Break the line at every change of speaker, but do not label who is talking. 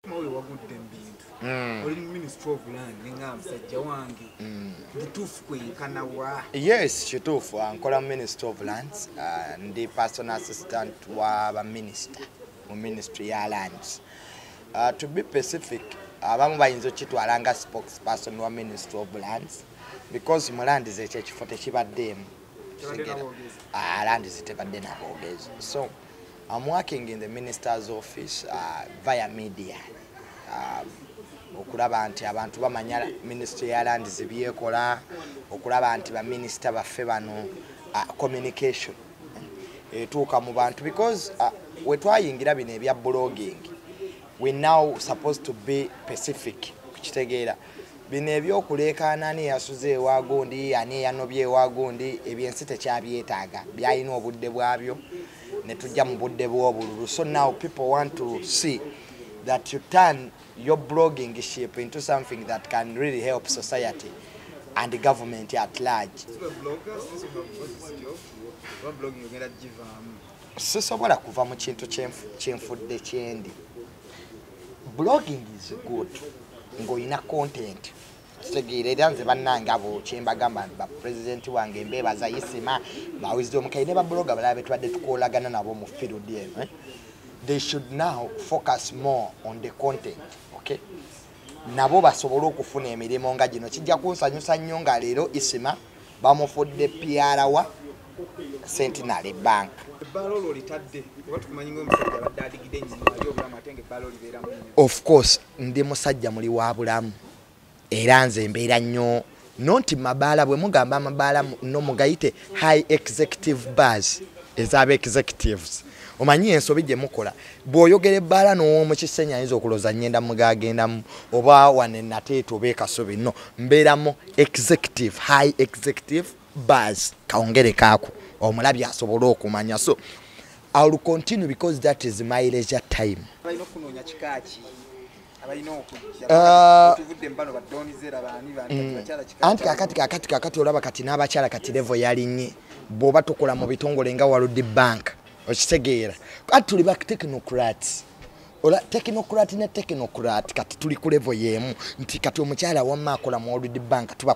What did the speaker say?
mawe wagudde mbintu mm. oli mu ministry of land ninga musajja wange mm. butuufu kwenkana wa yes kituufu
ah, nkola mu ministry of lands ah, ndi personal assistant wa baminister mu ministry ya lands ah, to be pacific abamu bayinza okukitwala nga spokes person wa ministry of lands because mu land zekyo ekifo tekibaddeemu landi zitebadde naboogezi so I'm working in the minister's office uh, via media uh, okulaba nti abantu bamanya ministry ya land zibyekola okulaba nti baminisita baffe bano uh, communication eh, etuuka mu bantu because uh, wetwayingira bino ebya blogging we now supposed to be pacific kukitegeera bino ebyokuleekaana ani eyasuze ewa gundi ani eyanobye ewa gundi ebyo ensi tekyabyetaaga byalina obudde bwabyo ne tujja mu budde bw'obululu so now people want to see that you turn your blogging ship into something that can really help society and the government at large sisobola kuva mu kintu kyenfudde kyendi blogging is good ng'olina content kitegeera era nze bannange abo kyembagamba nti bapulezidenti wange mbeebaza yisima bawizi omukayi ne babuloga balaba betubadde tukolagana nabo mu field eno eh? they should now focus more on the content okay nabo basobole okufuna emirimu nga gino kijja kunsanyusa nnyo nga leero isima bamufudde pyarawa centenary bank of course ndi musajja muli wa bulamu era nze mbeera nnyo no nti mabaala bwe mugamba amabaala no mugayite high executive bars ezaba executives omanyi ensobi gye mukola bw'oyogera ebbaala n'omu kisenyi ayinza okuloza ngenda mugagendamu oba wane nateeta oba ekasubi no mbeeramu executive high executive bars kawongere kaako omulabi asobole okumanya so iwill continue because that is my leisure time Ah. Mm. anti kakati kakati kakati olaba kati n'abakyala kati levo yalinye bwoba tukola mu bitongole nga waludi bank okitegeera kati tuli ba technocrat ola technocrat ne technocrat kati tuli ku levo y'emu nti kati omukyala wamma akola mu waludi bank tuba